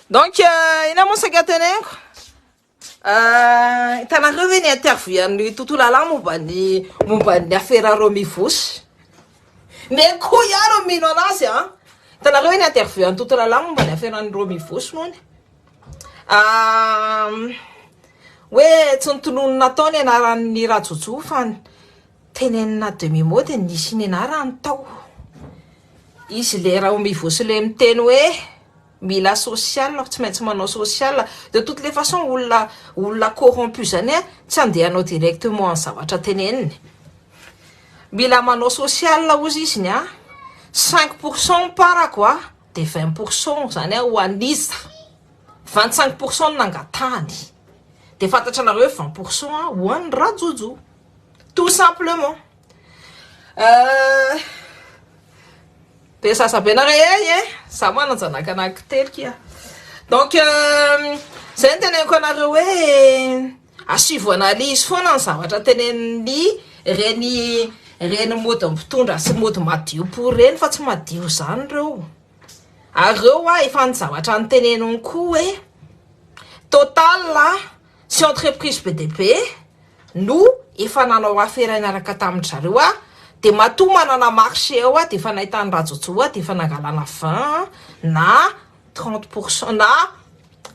Donc, euh, ina moa saika teneniko euh, hitanareo ve ny interview an'ny tontolo alahy momba ny momba ny afera reo mivosy ne ko iaro mino anazy a hitanareo ve ny interview an'ny tontolo alahy momba ny aferan'ireo mivosy mony euh, hoe tsy nitolony natao ny anaran'ny rajojo fa tenenina demi mot dia nisy ny anarany tao Izy le Raomivo sy le miteny hoe mila social fa tsy maintsy manao social de toute les façons olona olona corrompu zany a tsy andehanao directement ny zavatra teneniny mila manao social ozy izy ny a cinq pour cent mparako a de vingt pour cent zany a ho an'iza vingt cinq pour cent no nangatahany de fantatranareo hoe vingt pour cent a ho an'i Rajojo tout simplement Euh, be zaza be nareo ey e za mana zanaka anaky telo kia donc euh, zay ny teneniko anareo hoe asivo analyse foana ny zavatra tenenin'ny reny reny mody mpitondra sy mody madio pour reny fa tsy madio zany reo ary reo a efa ny zavatra ny teneniny koa hoe total a Tsy entreprise be dia be no efa nanao afera niaraka tamin-dry zareo aho dia matoa manana marché ao aho dia efa nahitan'i Rajojo aho dia efa nangalana 20 na 30 pourcent na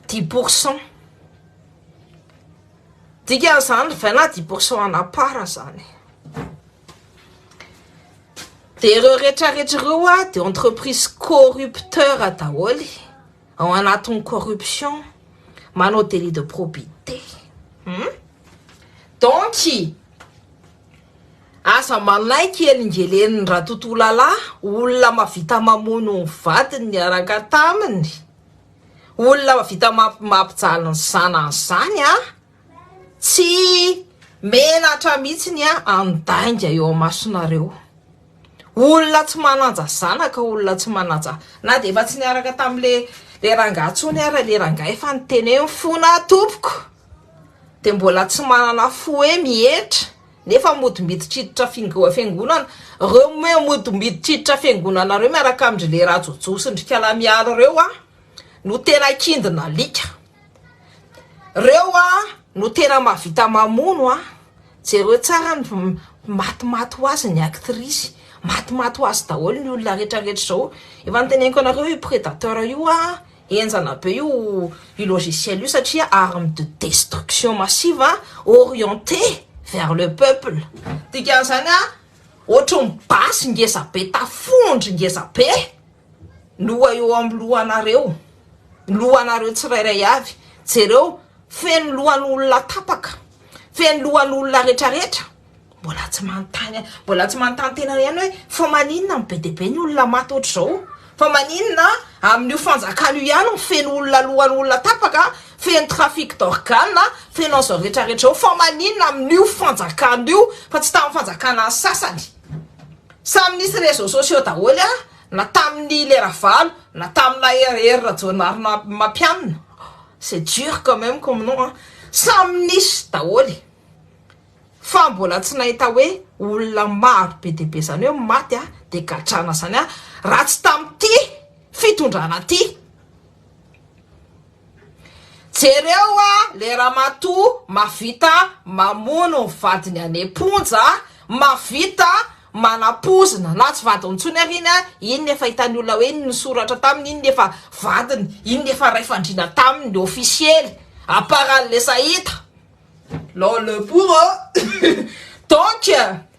10 pourcent. Dikan'izany 20 na 10 pourcent en à part izany. Dia ireo rehetra rehetra ireo dia entreprise corrupteur daholo. Ao anatin'ny corruption, manao délit de probité. Hum? Donc, aza manaiky elingelen'ny Ratotolalaa, olona mahavita mamono ny vadiny niaraka taminy, olona mahavita mampijaly ny zanany izany an! Tsy menatra mihitsiny aho handainga eo amasonareo. Olona tsy manaja zanaka, olona tsy manaja, na dia efa tsy niaraka tamin'ilay le rangahy intsony ary le rangahy efa niteny hoe mifona tompoko, dia mbola tsy manana fo hoe mihetra, nefa mody miditra hiditra fiangonana. Ireo moa mody miditra hiditra fiangonana ireo miaraka amin-dry le Rajojo sy ndry Kala Mialy ireo no tena kindon'alika. Reo a no tena mahavita mamono a, jereo tsara ny maty maty ho azy ny actrice, maty maty ho azy daholo ny olona rehetra rehetra zao, efa noteneniko anareo io predateur io a, enjana be io io logiciel io satria arme de destruction massive a, orienté vers le peuple, dikan'izany a ohatry ny basy ngeza be tafondro ngeza be. Loha eo amin'ny lohanareo, lohanareo tsirairay avy. Jereo, feno lohan'olona tapaka, feno lohan'olona retraretra. Mbola tsy manontany, mbola tsy manontany tenany ihany hoe fa maninona no be dia be ny olona maty ohatr'izao? Fa maninona amin'io fanjakana io ihany no feno olona lohan'olona tapaka, feno trafic d'organes, feno an'izao retraretra izao? Fa maninona amin'io fanjakana io fa tsy tamin'ny fanjakana sasany? Samy nisy réseaux sociaux daholo a, na tamin'ny le Ravalo, na tamina Hery Hery Rajaonarimampianina, c'est dur quand même comme nom a, samy nisy daholo e, fa mbola tsy nahita hoe olona maro be dia be zany hoe maty a, dia gadrana zany a, raha tsy tamin'ity fitondrana ity. Jereo a le ramatoa mavita mamono ny vadiny any am-ponja, mavita manapoizina na tsy vadiny intsony ary iny a, iny efa hitan'ny olona hoe iny nisoratra taminy, iny efa vadiny, iny efa ray fandriana taminy ofisiely, à part an'le sahita, l'homme le bourreau donc.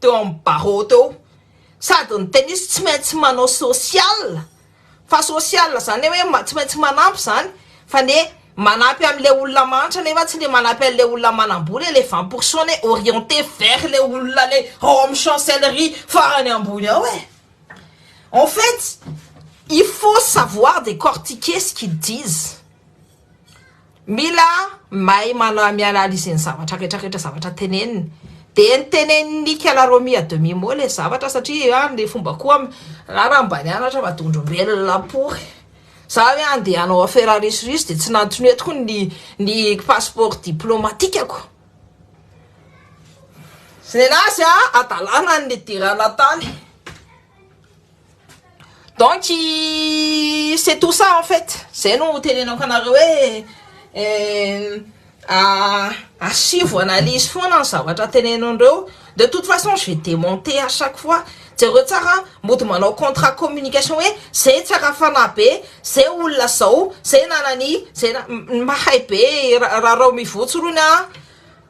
teo amin'ny barreau teo, sady ny tennis tsy maintsy manao social, fa social izany hoe tsy maintsy manampy izany, fa ny hoe manampy an'ilay olona mahantra nefa tsy le manampy an'ilay olona manam-bola ilay vingt pour cent ny hoe orienté vers ilay olona ilay ao amin'ny chancellerie farany ambony ao e! en fait il faut savoir décortiquer ce qu'ils disent. Mila mahay mana mi-analyse ny zavatra rehetra rehetra zavatra teneniny. Dia ny tenenin'i Kela Romy à demi mot ilay zavatra satria an ilay fomba koa raha raha mba nianatra fa dondrombelona pory. Za hoe andeha hanao afera risoriso dia tsy nantonio tokoa ny ny passeport diplomatikako. Zay nazy an hadalana ny nidirana tany. Donc c'est tout ça en fait Zay no tenenako anareo hoe Asivo analyse foana ny zavatra tenenandreo De toute façon je vais démonter à chaque fois Jereo tsara mody manao contrat communication hoe Zay tsy arafana be Zay olona zao Zay nanani Zay mahay be Rarao mivotsy rony an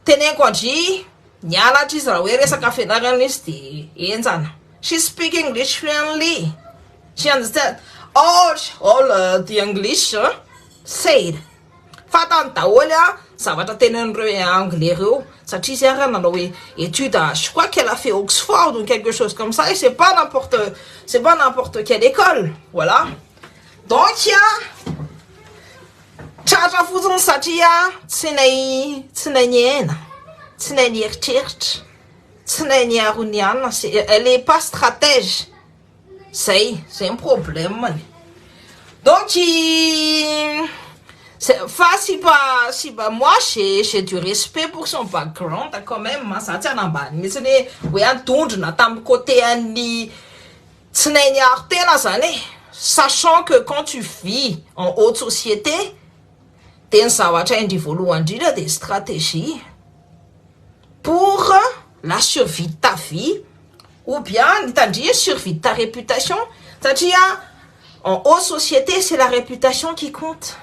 Tenenko andry Niala hatry izy raha hoe resaka fianarana izy dia henjana. She speak English fluently. She understand all all the English said. Fantany daholo a zavatra tenenin'ireo anglais ireo satria izy ary nanao hoe étude je crois qu'elle a fait Oxford ou quelque chose comme ça et c'est pas n'importe c'est pas n'importe quelle école. Voilà. Donc a. Tratra fotsiny satria tsy nay tsy nay niaina, tsy nay nieritreritra, tsy nay niaro ny anona se elle est pas stratège zay zay ny problème-ny donc i zay fa sy mba sy mba moi j'ai j'ai du respect pour son background quand même a za tsy hanambany mihitsiny hoe hoe an-dondrona tamin'ny côté an'ny Tsy nay niaro tena zany e! Sachant que quand tu vis en haute société dia ny zavatra indry voalohany indrindra dia stratégie pour la survie de ta vie ou bien mitandria survie de ta réputation satria en haute société c'est la réputation qui compte.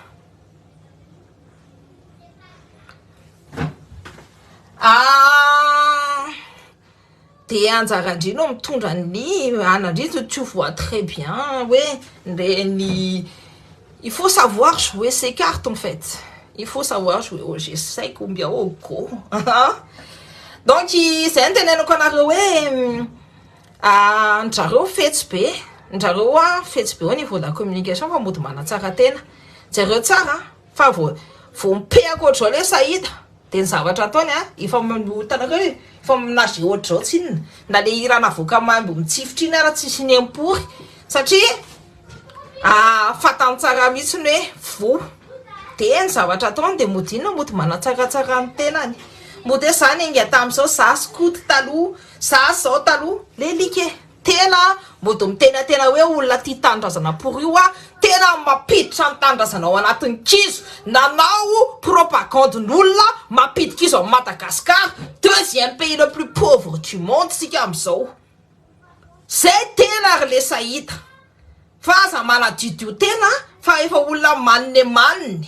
Ah! de anjarandry no mitondra ny anandry de tu vois très bien hoe le ny il faut savoir jouer ses cartes en fait il faut savoir jouer au jeu sec ou bien au go donc zay no teneniko anareo hoe anjareo fetsy be anjareo a fetsy be au niveau de la communication fa mody manatsara tena jereo tsara fa voa voa mipehako ohatr'izao le sahida Dia ny zavatra ataony a, efa hitanareo e, efa menage ohatr'izao tsy inona, na le hira navoaka maimbo mitsifotra iny ara tsisy niempory, satria fantany tsara mihitsiny hoe voa, dia ny zavatra ataony dia mody inona, mody manatsaratsara ny tenany, mody hoe za niainga tamin'izao, za skoto taloha, za zao taloha, le alika e. Tena mody mitenatena hoe olona tia tanindrazana pour io a, tena mampiditra ny tanindrazana ao anatiny kizo nanao propagande n'olona mampidy kizo am Madagascar deuxième pays le plus pauvre du monde sika amzao zay tena ry lesa hita fa aza manadidio tena fa efa olona manne manne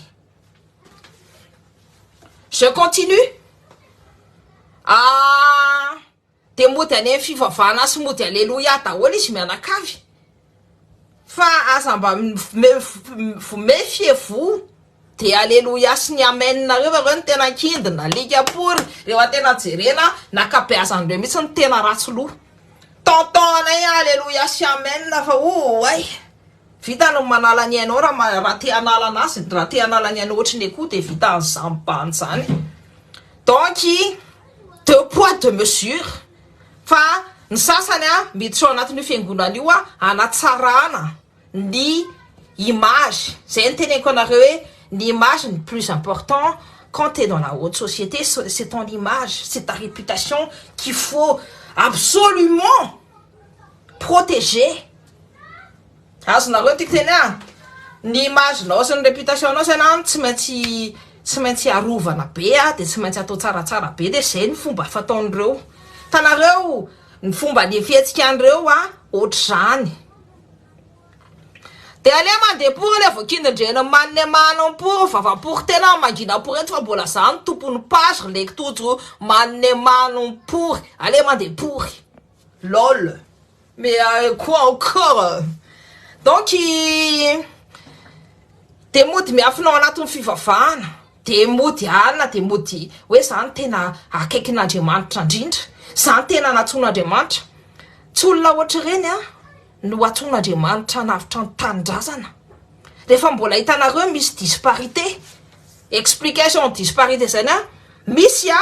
je continue ah. Dia mody any amin'ny fivavahana sy mody aleloia daholo izy mianakavy fa aza mba mefie-vous dia aleloia sy ny amen nareo fa ireo no tena an-kindiny, alika pory rehefa tena jerena ny ankabeazan'ireo mihitsy no tena ratsy loha, tentant anay aleloia sy amen fa oay, vita ny manala ny ainao raha te hanala an'azy, raha te hanala ny ainao ohatry ny akoho dia vita an'izany bandy izany donc. Deux poids deux mesures fa ny sasany a miditra ao anatin'io fiangonana io a hanatsarana ny image zay ny teneniko anareo hoe ny image ny plus important quand t'es dans la haute société c'est ton image c'est ta réputation qu'il faut absolument protéger Azonareo ty teny a! Ny image nao sy ny réputation nao zany an tsy maintsy tsy maintsy arovana be a de tsy maintsy atao tsaratsara be de zay ny fomba fataon'ireo hitanareo ny fomba ny fihetsikan'ireo a ohatr'izany de aleo mandeha pory ilay voakindin-dreny manne manon pory vavapory tena mangina pory eto fa mbola za no tompon'ny page ry leki tojo manne manon pory aleo mandeha pory Lol. Mais euh, quoi encore? Donc i dia mody miafina ao anatin'ny fivavahana, dia mody alina, dia mody hoe za no tena akaikin'Andriamanitra indrindra, za no tena nantsoin'Andriamanitra. Tsy olona ohatr'ireny an! no antsoin'Andriamanitra hanavotra ny tanindrazana rehefa mbola hitanareo misy disparité explication disparité zany a misy a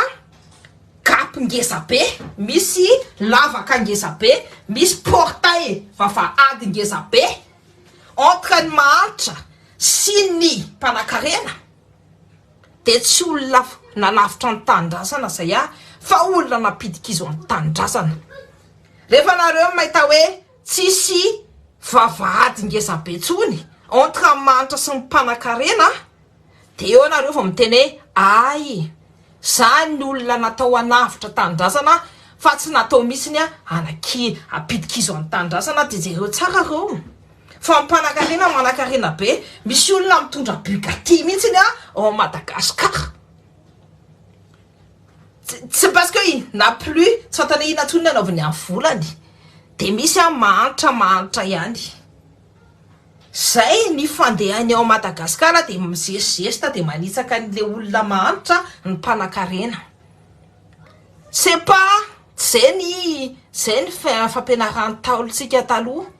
gap ngeza be misy lavaka ngeza be misy portail vavahady ngeza be entre ny mahantra sy ny mpanakarena dia tsy olona nanavotra ny tanindrazana zay aho fa olona nampidi-kizo amin'ny tanindrazana. Rehefa nareo mahita hoe tsisy vavahady ngeza be tsony entre an'i Manitra sy ny mpanakarena dia eo nareo vao miteny hoe ay zany ny olona natao hanavotra tanindrazana fa tsy natao mihitsiny hanakia hampidi-kizo amin'ny tanindrazana dia jereo tsara reo. Fa mpanakarena manakarena be. Misy olona mitondra Bugatti mihitsy ny ao Madagascar. Tsy parce que il n'a plus, tsy fantany hoe inona intsony ny anaovany amin'ny volany. Dia misy an mahantra mahantra ihany. Zay ny fandehany ao Madagascar dia mizesizesta dia manitsaka an'ilay olona mahantra ny mpanakarena. C'est pas, zay ny zay ny fampianaran'ny ntaolontsika taloha.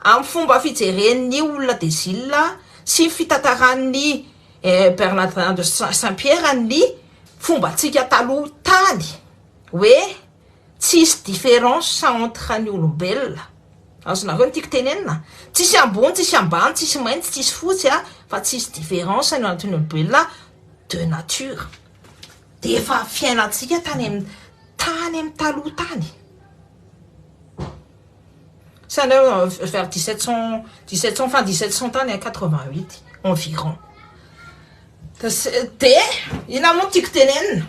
Amin'ny fomba fijeren'ny olona de Zila sy ny fitantaran'i Bernadin de Saint-Pierre ny fombantsika taloha tany hoe tsisy différence entre ny olombelona, azonareo ny tiako tenenina? tsisy ambony tsisy ambany tsisy mainty tsisy fotsy a, fa tsisy différence eo anatrehan'ny olombelona de nature, de efa fiainantsika tany amin'ny tany amin'ny taloha tany. Saint Leu vers 1717 cent 1700 tany a 88 environ de inona moa no tiako tenenina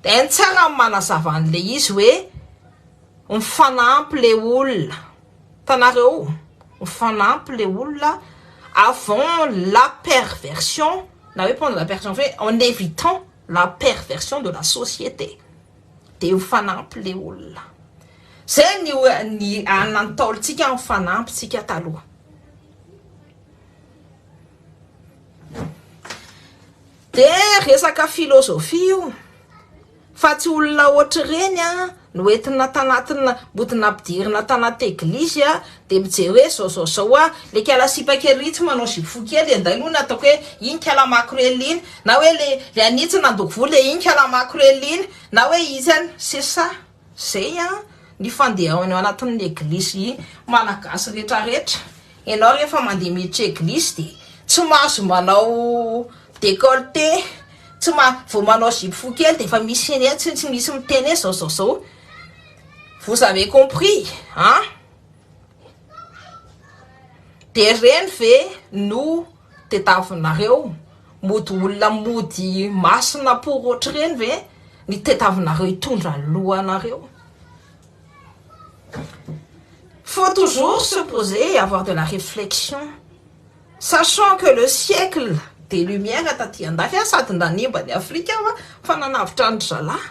de ny tsara ny manazava an'le izy hoe mifanampy le olona hitanareo mifanampy le olona avant la perversion na hoe pendant la perversion en evitant la perversion de la société. Dia ho fanampy le olona. Zay ny ny anona ny taolintsika ny fanampy tsika taloha. De resaka filozofia io fa tsy olona ohatr'ireny a no entina tanatina mbotina ampidirina tanaty eglizy a Dia mijery hoe zao zao zao hoa le kala sipa kely ritsy manao zipo fohy kely enday lo na ataoko hoe iny kala makorely iny na hoe le le anitsy nandoko volo e iny kala makorely iny na hoe izy any c'est ça zay an ny fandehanao anatin'ny eglizy i malagasy rehetra rehetra enao rehefa mandeha miditra eglizy de tsy mahazo manao décolleté tsy ma vao manao zipo fohy kely de efa misy eny tsy tsy misy miteny hoe zao zao zao vous avez compris an De reny ve no tetavinareo? Mody olona mody masina pour ohatr'ireny ve ny tetavinareo hitondra ny lohanareo? Faut toujours se poser et avoir de la réflexion, sachant que le siècle des lumières taty andafy sady nanimba an'i Afrika fa nanavotra an-dry zalahy.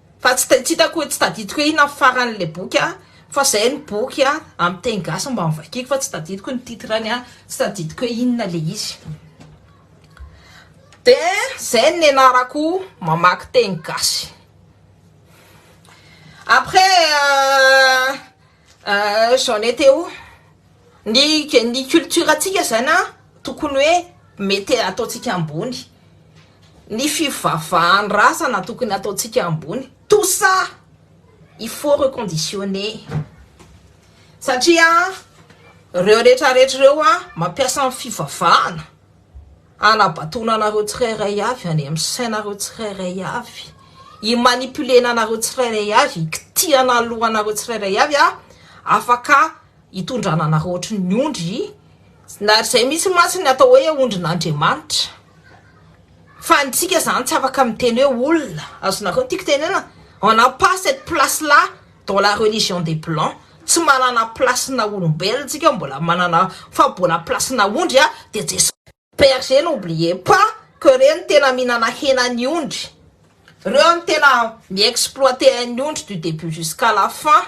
Fa tsy tsy hitako hoe tsy tadidiko hoe inona ny farany ilay boky a, fa zay ny boky a amin'ny teny gasy mba novakiako fa tsy tadidiko ny titre-ny a, tsy tadidiko hoe inona ilay izy. De zay no nianarako mamaky teny gasy. Après. J'en etais où? Ny ny culture tsika zany an tokony hoe mety ataontsika ambony, ny fivavahan-drazana tokony ataontsika ambony, tout ça il faut reconditionner satria an reo retraretra reo an mampiasa ny fivavahana Hanabatoana anareo tsirairay avy any amin'ny sainareo tsirairay avy, hi-manipuler-na anareo tsirairay avy, hikitihana lohanareo tsirairay avy aho, afaka hitondrana anareo ohatry ny ondry, na izay mihitsy mantsy ny atao hoe ondrin'Andriamanitra, fa ny antsika izany tsy afaka miteny hoe olona, azonareo ny tiako tenena? On n'a pas cette place là dans la religion des blancs tsy manana place na olombelona tsika mbola manana fa mbola place na ondry a de jesosy berger n'oubliez pas que reo no tena mihinana hena ny ondry reo no tena mi exploiter an'ny ondry du debut jusqu'à la fin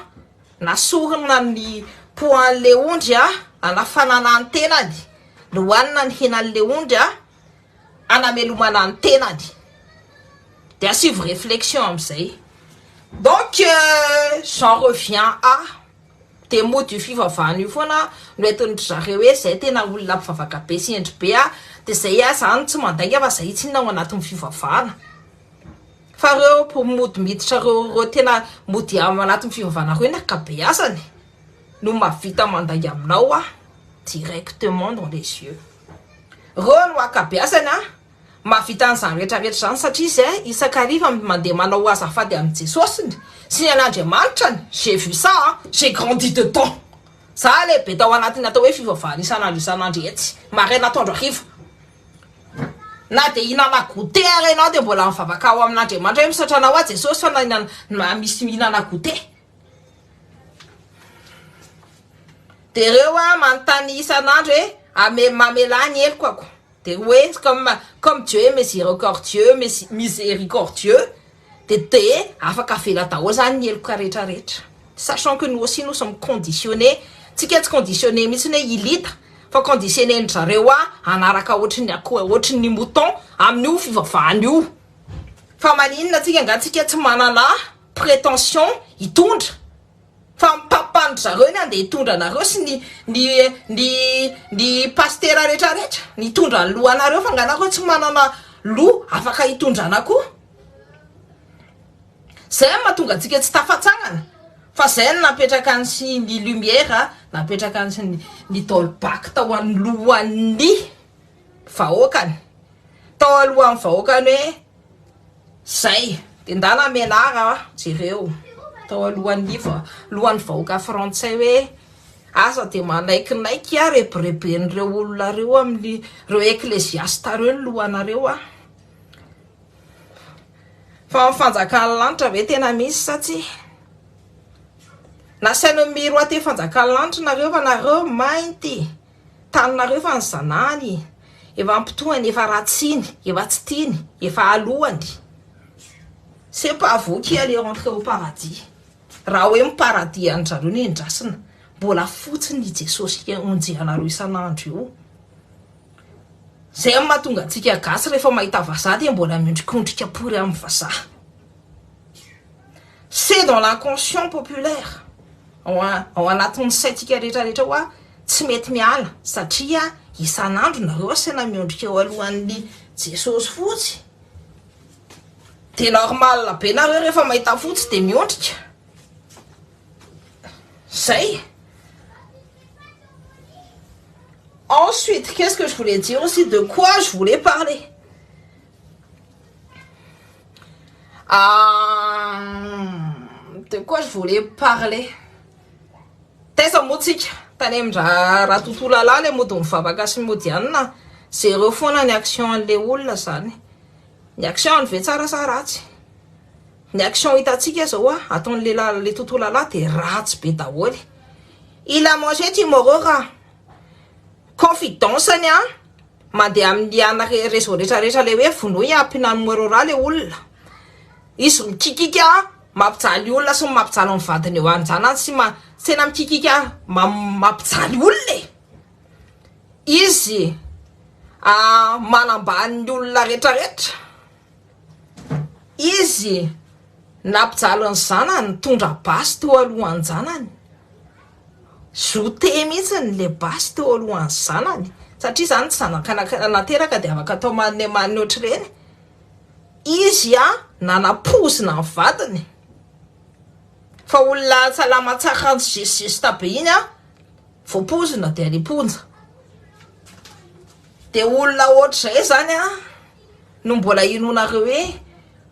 na sorona ny poids an'le ondry a anafanana ny tenany no hanina ny henan'le ondry a hanamelomana ny tenany de asivo reflexion amizay donc j'en reviens à de mody io fivavahana io foana no entin dry zareo hoe zay tena olona mpivavaka be sy hendry be ah de zay ah zany tsy mandainga fa zay tsinona ao anatin'ny fivavahana fa reo mody miditra reo reo tena mody ao anatin'ny fivavahana reo ny akabeazany no mahavita mandainga aminao ah directement dans les yeux Reo no akabeazany an! Mahavita an'izany rehetra rehetra izany satria izy isak'ariva mandeha manao ho azafady amin'i Jesosiny sy ny an'Andriamanitrany, j'ai vu ça an! J'ai grandi dedans! Za lehibe tao anatin'ny atao hoe fivavahana isan'andro isan'andro etsy, maraina atoandro hariva. Na dia hihinana goûter ara ianao dia mbola mivavaka ao amin'Andriamanitra hoe misaotra anao aho Jesosy fa na misy mihinana goûter. Dia ireo aho manontany isan'andro hoe ame mamelà ny helokako dia ho etsy comme comme Dieu est misericordieux misericordieux dia dia afaka avela daholo izany ny heloka rehetra rehetra sachant que nous aussi nous sommes conditionnés tsika tsy conditionnés mihitsy hoe hilita fa conditionnés ny zareo aho hanaraka ohatry ny akoho ohatry ny mouton amin'io fivavahana io fa maninona tsika nga tsika tsy manana prétention hitondra fa mpapany ry zareo ny andeha hitondra anareo sy ny ny ny ny pastera rehetra rehetra nitondra ny lohanareo fa nga nareo tsy manana loha afaka hitondrana koa zay no mahatonga antsika tsy tafatsangana fa zay no napetraka ny sy ny lumière napetraka ny sy ny ny dolbach tao anoloan'ny vahoakany tao alohan'ny vahoakany hoe Zay de ndana menara a! jereo tao alohan'ny lohan'ny vahoaka frantsay hoe aza de manaikinaiky a! rebireben'ireo olona reo amin'ny reo ekleziasta reo ny lohanareo a! fa ny fanjakan'ny lanitra ve tena misy sa tsia? nasaino miroatea fanjakan'ny lanitra nareo fa nareo mainty! taninareo fa ny zanahany efa ampitohany efa ratsiny efa tsy tiany efa alohany c'est pas vous qui allez rentrer au paradis raha hoe ny paradis anjareo no endrasina mbola fotsiny i Jesosy onjehanareo isan'andro io zay mahatonga antsika gasy rehefa mahita vazaha dia mbola miondrikondrika pory amin'ny vazaha C'est dans l'inconscient populaire, ao ao anatin'ny saintsika rehetra rehetra hoa tsy mety miala satria isan'andro nareo asaina miondrika eo alohan'ny Jesosy fotsy de normal be nareo rehefa mahita fotsy de miondrika zay ensuite qu'est-ce que je voulais dire aussi de quoi je voulais parler de quoi je voulais parler taiza moa tsika tany amin-dra raha tontolo alahy le mody mivavaka sy mody anina zero foana ny action an'le olona zany ny action ny ve tsara sa ratsy ny action hitantsika zao a ataon'ny lehilahy le tontolo alahy de ratsy be daholo il a mangé tomorrow raha confidence ny a Mandeha amin'ny ana réseau rehetra rehetra le hoe vonoy a pina numero ra le olona izy mikikika mampijaly olona sy mampijaly ny vadiny eo anjanany sy ma tsy tena mikikika mampijaly olona e izy manambany ny olona rehetra rehetra izy nampijaly ny zanany nitondra basy teo alohan-janany Zote mihitsy ny le basy teo alohan'ny zanany satria izany zanaka nateraka dia afaka atao maninemany ohatr'ireny, izy a nanapoizina ny vadiny fa olona salama tsara kanjo juste juste be iny a voapoizina dia any am-ponja, dia olona ohatr'izay izany a no mbola hinoanareo hoe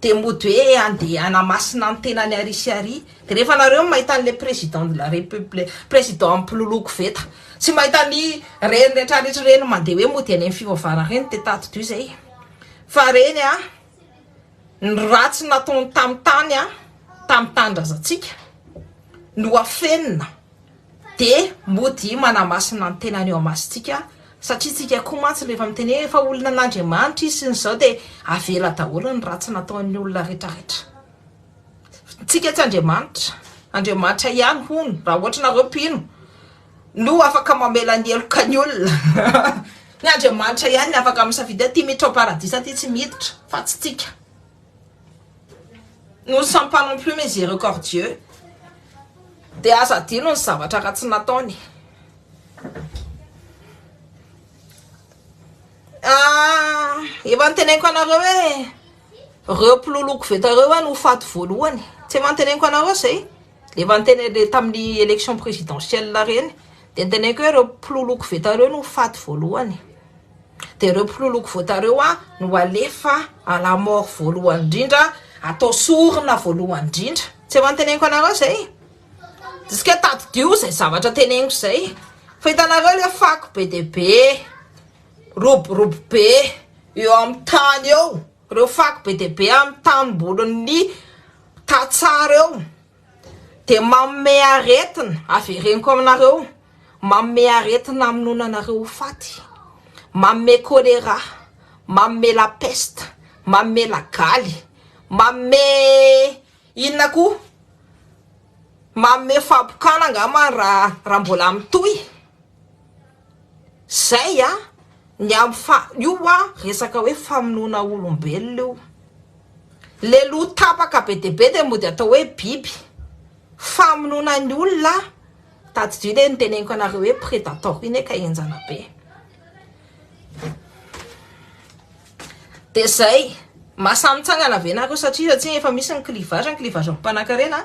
dia mody hoe andeha hanamasina ny tenany ary sy ary, dia rehefa nareo mahita an'ilay président de la république, président mpiloloha koveta tsy mahita ny reny rehetra rehetra ireny mandeha hoe mody any amin'ny fivavahana ireny dia tadidio izay fa ireny an ny ratsy nataony tamin'ny tany an tamin'ny tanindrazantsika no afenina. Dia modia manamasina ny tenany eo amason-tsika satria tsika koa mantsy rehefa miteny hoe efa olona an'Andriamanitra izy sy ny zao dia avela daholo ny ratsy nataon'ny olona rehetra rehetra. Tsika tsy Andriamanitra, Andriamanitra ihany hono raha ohatra nareo mpino no afaka mamela ny heloka ny olona. Ny Andriamanitra ihany ny afaka misafidy hoe ty miditra ao paradisa ty tsy miditra fa tsy tsika. Nous ne sommes pas non plus miséricordieux dia aza adino ny zavatra ratsy nataony. Ah, efa niteneniko anareo hoe reo mpiloloha koveta reo hoe no faty voalohany. Tsy efa niteneniko anareo zay? Efa niteny le tamin'ny election présidentielle reny de niteneniko hoe ireo mpiloloko veta ireo no faty voalohany de ireo mpiloloko vota ireo a no alefa à la mort voalohany indrindra atao sorona voalohany indrindra tsy efa niteneniko anareo zay diska hoe tadidio zay zavatra teneniko zay fa hitanareo le fako be de be roborobo be eo amin'ny tany eo Ireo fako be dia be amin'ny tanimbolin'ny tantsaha ireo dia manome aretina, avereniko aminareo, manome aretina hamonoana anareo ho faty, manome choléra, manome la peste, manome lagaly, manome inona koa, manome fahapokana angamba raha mbola mitohy, Zay a! Ny amin'ny fa io a resaka hoe famonoana olombelona io. Le loha tapaka be dia be dia mody atao hoe biby. Famonoana ny olona a! Tadidio le niteneniko anareo hoe predator iny ka enjana be. Dia zay, mahasahy mitsangana ve nareo satria satria efa misy ny clivage, ny clivage amim-panankarena.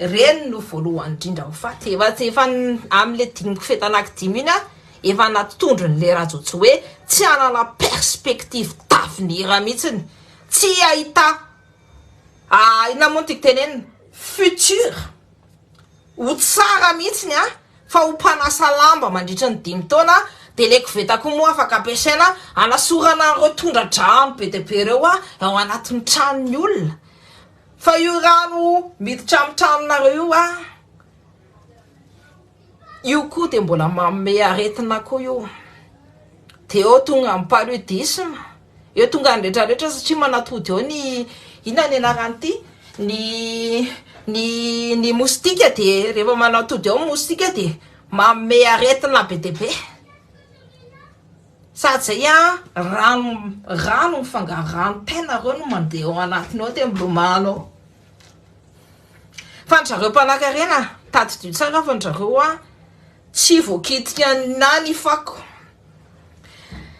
Ireny no voalohany indrindra ho faty. Efa efa amle dimy kofehy tanaky dimy iny aho efa anaty tondrony le Rhajo tsy hoe tsy hanana perspective d'avenir mihitsiny. Tsy hahita ah inona moa no tiako tenenina futur ho tsara mihitsiny an! Fa ho mpanasa lamba mandritry ny dimy taona de le koveta koa moa afaka ampiasaina anasorana an'ireo tondra-drano be dia be ireo ao anatin'ny tranon'ny olona. Fa io rano miditra amin'ny tranonareo io a, io koa dia mbola manome aretina koa io, dia eo tonga ny paludisme, eo tonga ny rehetra rehetra satria manatody eo ny inona ny anaran'ity ny ny ny mostika dia rehefa manatody eo ny mostika dia manome aretina be dia be. Sady zay a rano rano mifangaro rano pain nareo no mandeha ao anatiny ao de milomano ao fa ny zareo mpanakarena tadidio tsara fa ny zareo a tsy voakitika na ny fako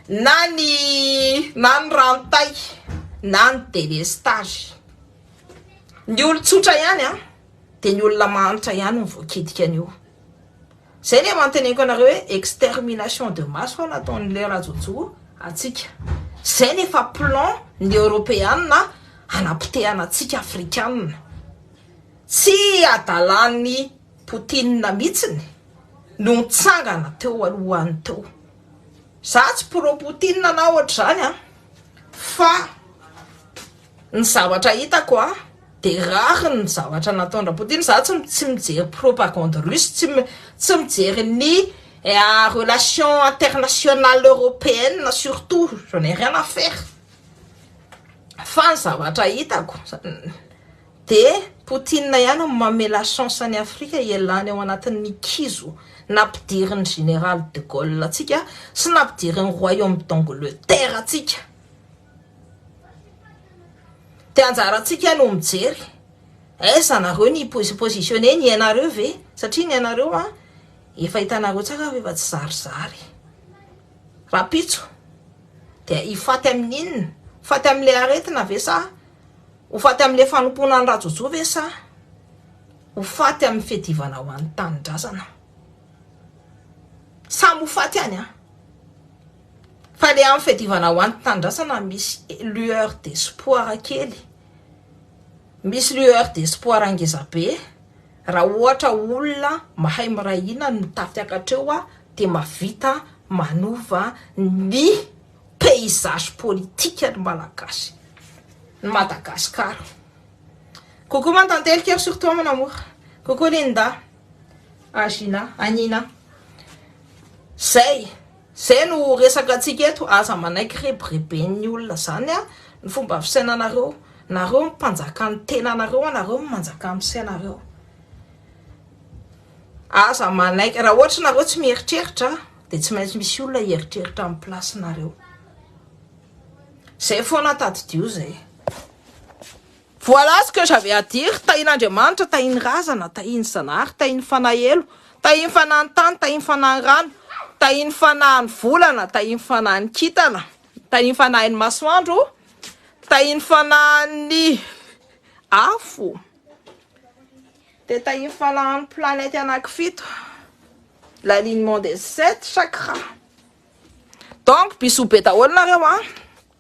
na ny na ny rano tay na ny delestage ny olo tsotra ihany a de ny olona mahantra ihany no voakitika an'io Zay le mantenenko anareo hoe extermination de masse hono ataon'i le rajojo atsika. Zay no efa plan ny europeana hanapotehana atsika afrikanina. Tsy adalan'i poutine mitsiny no nitsangana teo alohany teo. Za tsy pro poutine na ohatr'izany an fa. Ny zavatra hitako a, de rare ny zavatra nataon dra Poutine, za tsy tsy mijery propagande russe, tsy tsy mijery ny relation internationale européenne surtout, je n'ai rien à faire, fa ny zavatra hitako de Poutine ihany no mamela chance an'i Afrika hialany ao anatin'ny kizo nampidirin'ny général de Gaulle antsika sy nampidirin'ny royaume d'Angleterre antsika. Dia anjarantsika no mijery. Est-ce anareo ny se positionner ny ainareo ve? Satria ny ainareo an, efa hitanareo tsara fa efa tsy zarizary. Rahampitso dia hifaty amin'inona? Hifaty amin'ilay aretina ve sa ho faty amin'ilay fanompoana an'i Rajojo ve sa ho faty amin'ny fiadivana ho an'ny tanindrazana? Samy ho faty any an! Fa le am fiadivana ho any tandrasana misy lueur d'espoir kely, misy lueur d'espoir ngezabe raha ohatra olona mahay miray hina no tafiakatra eo dia mahavita manova ny paysage politique ny malagasy, ny Madagascar. Coucou ma tantely cœur sur toi mon amour. Coucou Linda, Agina, Anina. Zay. Zay no resaka antsika eto aza manaiky rebireben'ny olona zany an ny fomba fisainanareo nareo no mpanjaka ny tenanareo an nareo no manjaka ny fisainareo aza manaiky raha ohatra nareo tsy mieritreritra de tsy maintsy misy olona hieritreritra amin'ny place nareo zay foana tadidio zay Voilà ce que j'avais à dire, tahin'Andriamanitra, tahin'ny razana, tahin'ny Zanahary, tahin'ny Fanahelo, tahin'ny Fanahin'ny tany, tahin'ny Fanahin'ny rano, tahin'ny Fanahin'ny volana, tahin'ny Fanahin'ny kintana, tahin'ny Fanahin'ny masoandro, tahin'ny Fanahin'ny afo, dia tahin'ny Fanahin'ny planète anakifito, l'alignement des sept chakras. Donc bisous be daholo nareo an!